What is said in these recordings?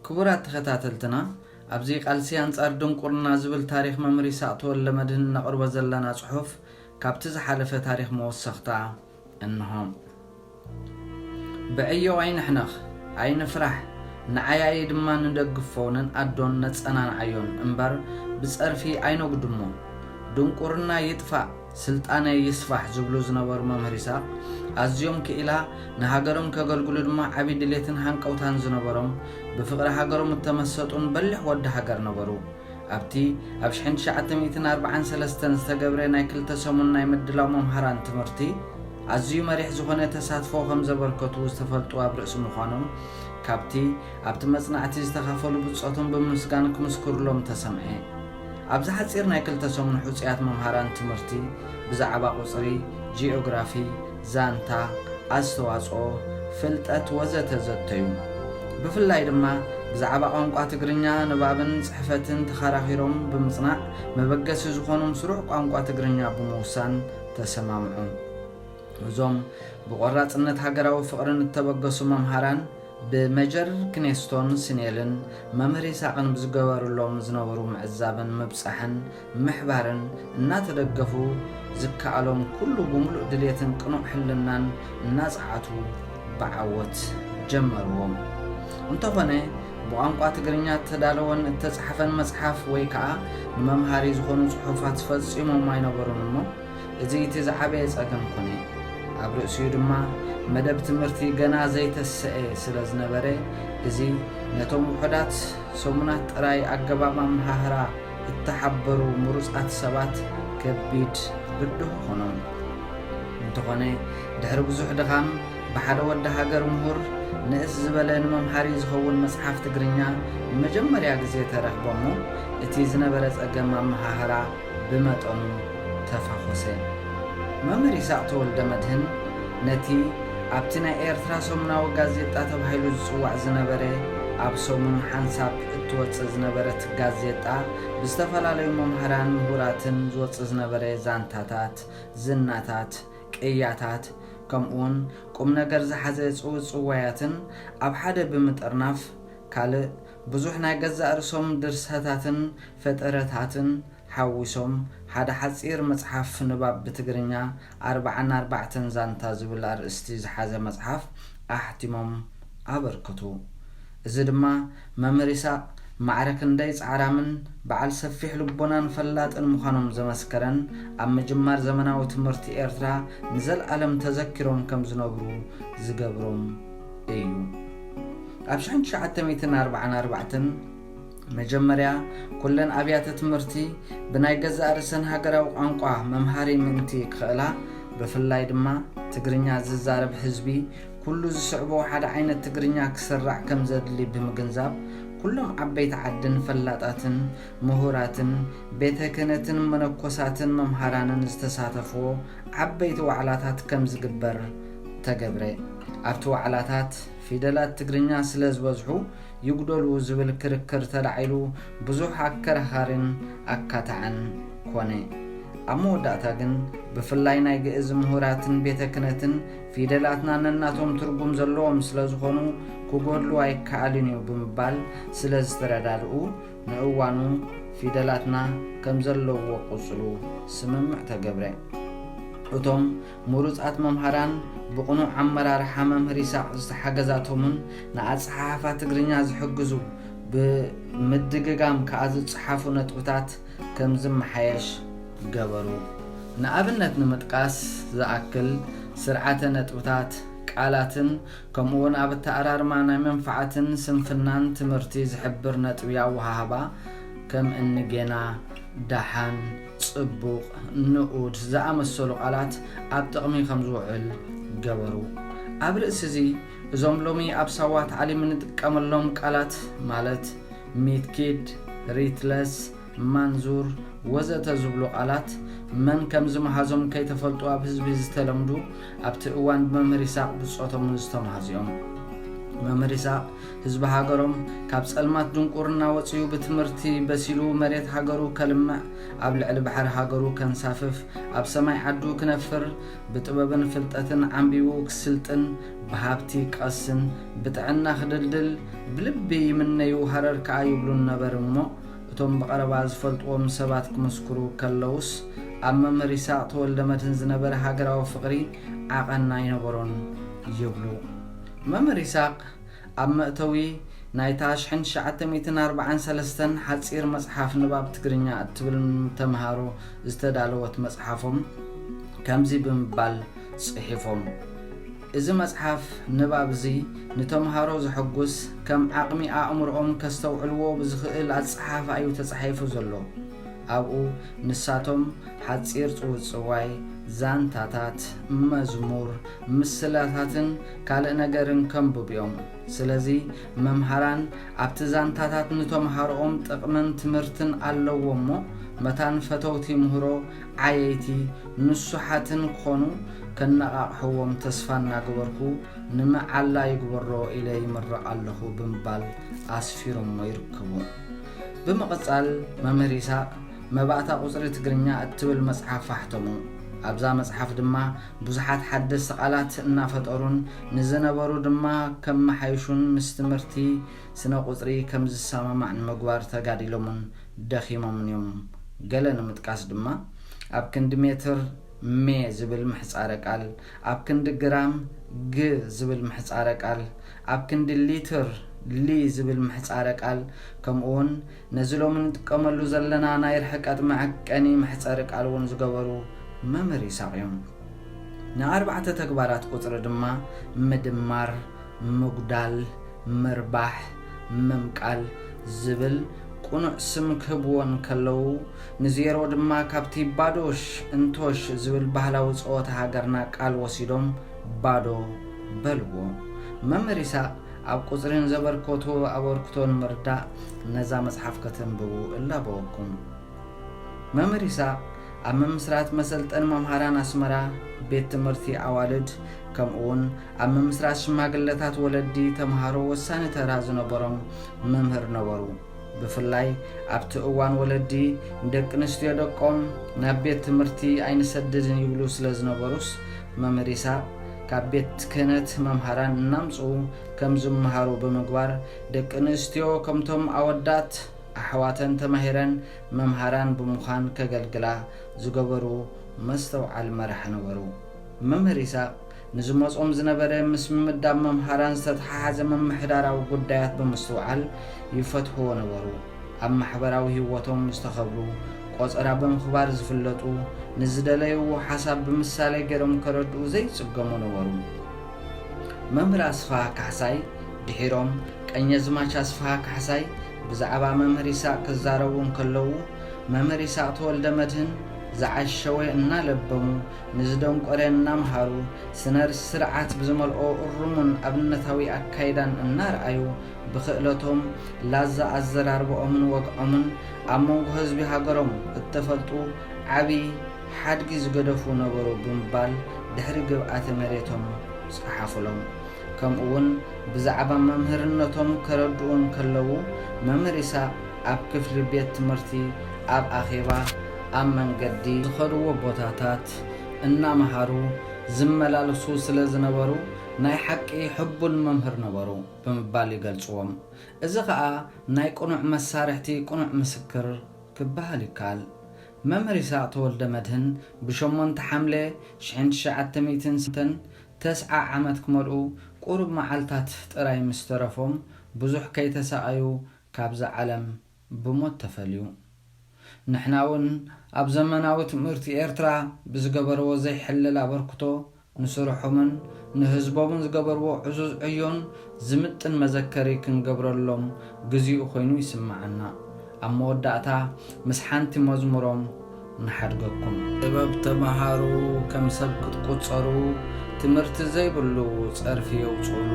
ክቡራት ተኸታተልትና ኣብዚ ቃልሲ ኣንጻር ድንቁርና ዝብል ታሪኽ መምህር ይስሃቅ ተወልደመድህን እነቕርቦ ዘለና ጽሑፍ ካብቲ ዝሓለፈ ታሪኽ መወሰኽታ እንሆ። ብዕዮ ኣይንሕነኽ ኣይንፍራሕ ንዓያዪ ድማ ንደግፎ ንንኣዶን ነጸናንዓዮን እምበር ብጸርፊ ኣይነጉድሞ። ድንቁርና ይጥፋእ! ስልጣነይ ይስፋሕ ዝብሉ ዝነበሩ መምህር ይስሃቅ ኣዝዮም ክኢላ ንሃገሮም ከገልግሉ ድማ ዓቢ ድሌትን ሃንቀውታን ዝነበሮም ብፍቅሪ ሃገሮም እተመሰጡን በሊሕ ወዲ ሃገር ነበሩ። ኣብቲ ኣብ ሽሕን ትሽዓተ ሚእትን ኣርብዓን ሰለስተን ዝተገብረ ናይ ክልተ ሰሙን ናይ ምድላው መምሃራን ትምህርቲ ኣዝዩ መሪሕ ዝኾነ ተሳትፎ ከምዘበርከቱ ዝተፈልጡ ኣብ ርእሲ ምዃኖም ካብቲ ኣብቲ መጽናዕቲ ዝተኻፈሉ ብጾቶም ብምምስጋን ክምስክሩሎም ተሰምዔ። ኣብዚ ሓጺር ናይ ክልተ ሰሙን ሕጹያት መምሃራን ትምህርቲ ብዛዕባ ቁጽሪ፣ ጂኦግራፊ፣ ዛንታ፣ ኣስተዋጽኦ፣ ፍልጠት ወዘተ ዘተዩ። ብፍላይ ድማ ብዛዕባ ቋንቋ ትግርኛ ንባብን ጽሕፈትን ተኻራኺሮም ብምጽናዕ መበገሲ ዝኾኖም ስሩዕ ቋንቋ ትግርኛ ብምውሳን ተሰማምዑ። እዞም ብቆራጽነት ሃገራዊ ፍቕርን እተበገሱ መምሃራን፣ ብመጀር ክኔስቶን ስኔልን መምህር ይስሃቅን ብዝገበሩሎም ዝነበሩ ምዕዛብን ምብጻሕን ምሕባርን እናተደገፉ ዝከኣሎም ኩሉ ብምሉእ ድሌትን ቅኑዕ ሕልናን እናጸዓቱ ብዓወት ጀመርዎ። እንተኾነ ብቋንቋ ትግርኛ እተዳለወን እተጻሕፈን መጽሓፍ ወይ ከኣ ንመምሃሪ ዝኾኑ ጽሑፋት ፈጺሞም ኣይነበሩን እሞ፣ እዚ እቲ ዝዓበየ ጸገም ኮነ። ኣብ ርእሲኡ ድማ መደብ ትምህርቲ ገና ዘይተሰኤ ስለ ዝነበረ፣ እዚ ነቶም ውሑዳት ሰሙናት ጥራይ ኣገባብ ኣመሃህራ እተሓበሩ ምሩጻት ሰባት ከቢድ ብድሆ ኾኖም። እንተኾነ ድሕሪ ብዙሕ ድኻም ብሓደ ወዲ ሃገር ምሁር ንእስ ዝበለ ንመምሃሪ ዝኸውን መጽሓፍ ትግርኛ ንመጀመርያ ግዜ ተረኽበ'ሞ እቲ ዝነበረ ጸገም ኣመሃህራ ብመጠኑ ተፋኾሰ። መምህር ይስሃቅ ተወልደመድህን ነቲ ኣብቲ ናይ ኤርትራ ሰሙናዊ ጋዜጣ ተባሂሉ ዝጽዋዕ ዝነበረ ኣብ ሰሙን ሓንሳብ እትወጽእ ዝነበረት ጋዜጣ ብዝተፈላለዩ መማህራን ምሁራትን ዝወጽእ ዝነበረ ዛንታታት፣ ዝናታት፣ ቅያታት ከምኡውን ቁምነገር ዝሓዘ ጽውጽዋያትን ኣብ ሓደ ብምጥርናፍ ካልእ ብዙሕ ናይ ገዛእ ርእሶም ድርሰታትን ፈጠረታትን ሓዊሶም ሓደ ሓጺር መጽሓፍ ንባብ ብትግርኛ ኣርብዓን ኣርባዕተን ዛንታ ዝብል ኣርእስቲ ዝሓዘ መጽሓፍ ኣሕቲሞም ኣበርክቱ። እዚ ድማ መምህር ይስሃቅ ማዕረ ክንደይ ጻዕራምን በዓል ሰፊሕ ልቦናን ፈላጥን ምዃኖም ዘመስከረን ኣብ ምጅማር ዘመናዊ ትምህርቲ ኤርትራ ንዘልኣለም ተዘኪሮም ከም ዝነብሩ ዝገብሮም እዩ። ኣብ ሽሕን ትሽዓተ ሚእትን ኣርብዓን ኣርባዕተን መጀመርያ ኩለን ኣብያተ ትምህርቲ ብናይ ገዛእ ርእሰን ሃገራዊ ቋንቋ መምሃሪ ምእንቲ ክኽእላ ብፍላይ ድማ ትግርኛ ዝዛረብ ህዝቢ ኩሉ ዝስዕቦ ሓደ ዓይነት ትግርኛ ክስራዕ ከም ዘድሊ ብምግንዛብ ኩሎም ዓበይቲ ዓድን ፈላጣትን ምሁራትን ቤተ ክህነትን መነኮሳትን መምሃራንን ዝተሳተፍዎ ዓበይቲ ዋዕላታት ከም ዝግበር ተገብረ። ኣብቲ ዋዕላታት ፊደላት ትግርኛ ስለ ዝበዝሑ ይጉደሉ ዝብል ክርክር ተላዒሉ ብዙሕ ኣከራኻሪን ኣካታዕን ኮነ። ኣብ መወዳእታ ግን ብፍላይ ናይ ግእዝ ምሁራትን ቤተ ክነትን ፊደላትና ነናቶም ትርጉም ዘለዎም ስለ ዝኾኑ ክጎድሉ ኣይከኣልን እዩ ብምባል ስለ ዝተረዳድኡ ንእዋኑ ፊደላትና ከም ዘለዎ ቁጽሉ ስምምዕ ተገብረ። እቶም ምሩጻት መምሃራን ብቕኑዕ ኣመራርሓ መምህር ይሳቕ ዝተሓገዛቶምን ንኣጸሓሕፋ ትግርኛ ዝሕግዙ ብምድግጋም ከኣ ዝጸሓፉ ነጥብታት ከም ዝመሓየሽ ገበሩ። ንኣብነት ንምጥቃስ ዝኣክል ስርዓተ ነጥብታት፣ ቃላትን ከምኡ'ውን ኣብ ኣተኣራርማ ናይ መንፍዓትን ስንፍናን ትምህርቲ ዝሕብር ነጥቢ ኣወሃህባ ከም እኒ ጌና፣ ደሓን፣ ጽቡቕ፣ ንኡድ ዝኣመሰሉ ቃላት ኣብ ጥቕሚ ከም ዝውዕል ገበሩ። ኣብ ርእሲ'ዚ እዞም ሎሚ ኣብ ሳዋ ታዕሊም እንጥቀመሎም ቃላት ማለት፣ ሚትኪድ፣ ሪትለስ፣ ማንዙር ወዘተ ዝብሉ ቃላት መን ከም ዝመሃዞም ከይተፈልጡ ኣብ ህዝቢ ዝተለምዱ ኣብቲ እዋን ብመምህር ይስሃቅ ብጾቶም'ውን ዝተመሃዙ'ዮም። መምህር ይስሃቅ ህዝቢ ሃገሮም ካብ ጸልማት ድንቁርና ወጺኡ ብትምህርቲ በሲሉ መሬት ሃገሩ ከልምዕ ኣብ ልዕሊ ባሕሪ ሃገሩ ከንሳፍፍ ኣብ ሰማይ ዓዱ ክነፍር ብጥበብን ፍልጠትን ዓምቢቡ ክስልጥን ብሃብቲ ክቀስን ብጥዕና ክድልድል ብልቢ ይምነዩ ሃረር ከኣ ይብሉን ነበር'ሞ እቶም ብቐረባ ዝፈልጥዎም ሰባት ክምስክሩ ከለዉስ፣ ኣብ መምህር ይስሃቕ ተወልደመድህን ዝነበረ ሃገራዊ ፍቕሪ ዓቐን ኣይነበሮን ይብሉ። መምህር ይስሃቕ ኣብ መእተዊ ናይታ ሽሕን ትሽዓተ ሚእትን ኣርብዓን ሰለስተን ሓጺር መጽሓፍ ንባብ ትግርኛ እትብል ንተመሃሮ ዝተዳለወት መጽሓፎም ከምዚ ብምባል ጽሒፎም። እዚ መጽሓፍ ንባብ እዚ ንተመሃሮ ዘሐጉስ ከም ዓቕሚ ኣእምሮኦም ከስተውዕልዎ ብዝኽእል ኣጸሓሕፋ እዩ ተጻሒፉ ዘሎ። ኣብኡ ንሳቶም ሓጺር ጽውጽዋይ፣ ዛንታታት፣ መዝሙር፣ ምስላታትን ካልእ ነገርን ከንብቡ እዮም። ስለዚ መምሃራን ኣብቲ ዛንታታት ንተመሃሮኦም ጥቕምን ትምህርትን ኣለዎ እሞ መታን ፈተውቲ ምህሮ ዓየይቲ ንሱሓትን ክኾኑ ከነቓቕሕዎም ተስፋ እናገበርኩ ንመዓላ ይግበሮ ኢለ ይምረቕ ኣለኹ ብምባል ኣስፊሮሞ ይርከቡ። ብምቕጻል መምህር ይስሃቅ መባእታ ቁጽሪ ትግርኛ እትብል መጽሓፍ ኣሕተሙ። ኣብዛ መጽሓፍ ድማ ብዙሓት ሓደስቲ ቃላት እናፈጠሩን ንዝነበሩ ድማ ከመሓይሹን ምስ ትምህርቲ ስነ ቁጽሪ ከም ዝሰማማዕ ንምግባር ተጋዲሎምን ደኺሞምን እዮም። ገለ ንምጥቃስ ድማ፣ ኣብ ክንዲ ሜትር፣ ሜ ዝብል ምሕጻረ ቃል፣ ኣብ ክንዲ ግራም፣ ግ ዝብል ምሕጻረ ቃል፣ ኣብ ክንዲ ሊትር፣ ሊ ዝብል ምሕጻረ ቃል፣ ከምኡ'ውን ነዚ ሎሚ ንጥቀመሉ ዘለና ናይ ርሕቀት መዐቀኒ መሕጸሪ ቃል እውን ዝገበሩ መምህር ይስሃቕ እዮም። ንኣርባዕተ ተግባራት ቁጽሪ ድማ ምድማር፣ ምጉዳል፣ ምርባሕ፣ ምምቃል ዝብል ቁኑዕ ስም ክህብዎ እንከለዉ ንዜሮ ድማ ካብቲ ባዶሽ እንቶሽ ዝብል ባህላዊ ጸወታ ሃገርና ቃል ወሲዶም ባዶ በልዎ። መምህር ኢሳቕ ኣብ ቁጽሪ ንዘበርከቶ ኣበርክቶ ንምርዳእ ነዛ መጽሓፍ ከተንብቡ እላበወኩም። መምህር ይስሃቅ ኣብ ምምስራት መሰልጠኒ መምሃራን ኣስመራ ቤት ትምህርቲ ኣዋልድ ከምኡ ውን ኣብ ምምስራት ሽማግለታት ወለዲ ተምሃሮ ወሳኒ ተራ ዝነበሮም መምህር ነበሩ። ብፍላይ ኣብቲ እዋን ወለዲ ንደቂ ኣንስትዮ ደቆም ናብ ቤት ትምህርቲ ኣይንሰድድን ይብሉ ስለ ዝነበሩስ መምህር ይስሃቅ ካብ ቤት ክህነት መምሃራን እናምጽኡ ከም ዝመሃሩ ብምግባር ደቂ ኣንስትዮ ከምቶም ኣወዳት ኣሕዋተን ተማሂረን መምሃራን ብምዃን ከገልግላ ዝገበሩ መስተውዓል መራሒ ነበሩ። መምህር ይስሃቅ ንዝመጾም ዝነበረ ምስ ምምዳብ መምሃራን ዝተተሓሓዘ ምምሕዳራዊ ጉዳያት ብምስትውዓል ይፈትሕዎ ነበሩ። ኣብ ማሕበራዊ ህይወቶም ዝተኸብሩ፣ ቆጸራ ብምኽባር ዝፍለጡ፣ ንዝደለይዎ ሓሳብ ብምሳሌ ገይሮም ከረድኡ ዘይጽገሙ ነበሩ። መምህር ኣስፍሃ ካሕሳይ ድሒሮም ቀኘዝማች ኣስፍሃ ካሕሳይ ብዛዕባ መምህር ይስሃቅ ክዛረቡ እንከለዉ መምህር ይስሃቅ ተወልደመድህን ዝዓሸወ እናለበሙ ንዝደንቆረ እናምሃሩ ስነ ስርዓት ብዝመልኦ እሩሙን ኣብነታዊ ኣካይዳን እናርኣዩ ብክእለቶም ላዛ ኣዘራርበኦምን ወግዖምን ኣብ መንጎ ህዝቢ ሃገሮም እተፈልጡ ዓቢ ሓድጊ ዝገደፉ ነበሩ ብምባል ድሕሪ ግብኣተ መሬቶም ጸሓፉሎም። ከምኡ'ውን ብዛዕባ መምህርነቶም ከረድኡ እንከለዉ፣ መምህር ይስሃቅ ኣብ ክፍሊ ቤት ትምህርቲ፣ ኣብ ኣኼባ፣ ኣብ መንገዲ፣ ዝኸድዎ ቦታታት እናመሃሩ ዝመላለሱ ስለ ዝነበሩ ናይ ሓቂ ሕቡን መምህር ነበሩ ብምባል ይገልጽዎም። እዚ ከኣ ናይ ቅኑዕ መሳርሕቲ ቅኑዕ ምስክር ክበሃል ይከኣል። መምህር ይስሃቅ ተወልደመድህን ብ ሸሞንተ ሓምለ ሽሕን ትሽዓተ ሚእትን ሰተን ተስዓ ዓመት ክመልኡ ቁሩብ መዓልታት ጥራይ ምስ ተረፎም ብዙሕ ከይተሳቀዩ ካብዛ ዓለም ብሞት ተፈልዩ። ንሕና ውን ኣብ ዘመናዊ ትምህርቲ ኤርትራ ብዝገበርዎ ዘይሕለል ኣበርክቶ ንስርሖምን ንህዝቦምን ዝገበርዎ ዕዙዝ ዕዮን ዝምጥን መዘከሪ ክንገብረሎም ግዚኡ ኮይኑ ይስመዓና። ኣብ መወዳእታ ምስ ሓንቲ መዝሙሮም ንሓድገኩም። ጥበብ ተመሃሩ ከም ሰብ ክትቁጸሩ ትምህርቲ ዘይብሉ ጸርፊ የውጽእሉ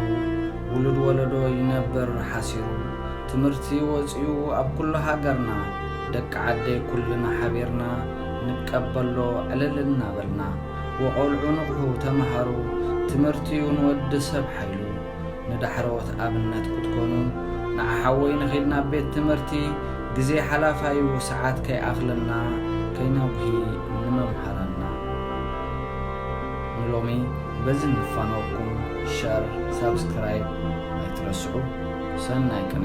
ውሉድ ወለዶ ይነብር ሓሲሩ ትምህርቲ ወጺኡ ኣብ ኩሉ ሃገርና ደቂ ዓደይ ኩልና ሓቢርና ንቀበሎ ዕልል እናበልና። ወቆልዑ ንቕሑ ተመሃሩ ትምህርቲዩ ንወዲ ሰብ ሓይሉ ንዳሕረዎት ኣብነት ክትኮኑ ንዓ ሓወይ ንኺድ ናብ ቤት ትምህርቲ ግዜ ሓላፋዩ ሰዓት ከይኣኽለና ከይነጉሂ ንመምሃራንና ንሎሚ በዚ ንፋነወኩም ሸር ሳብስክራይብ ኣይትረስዑ ሰናይ ቅኔ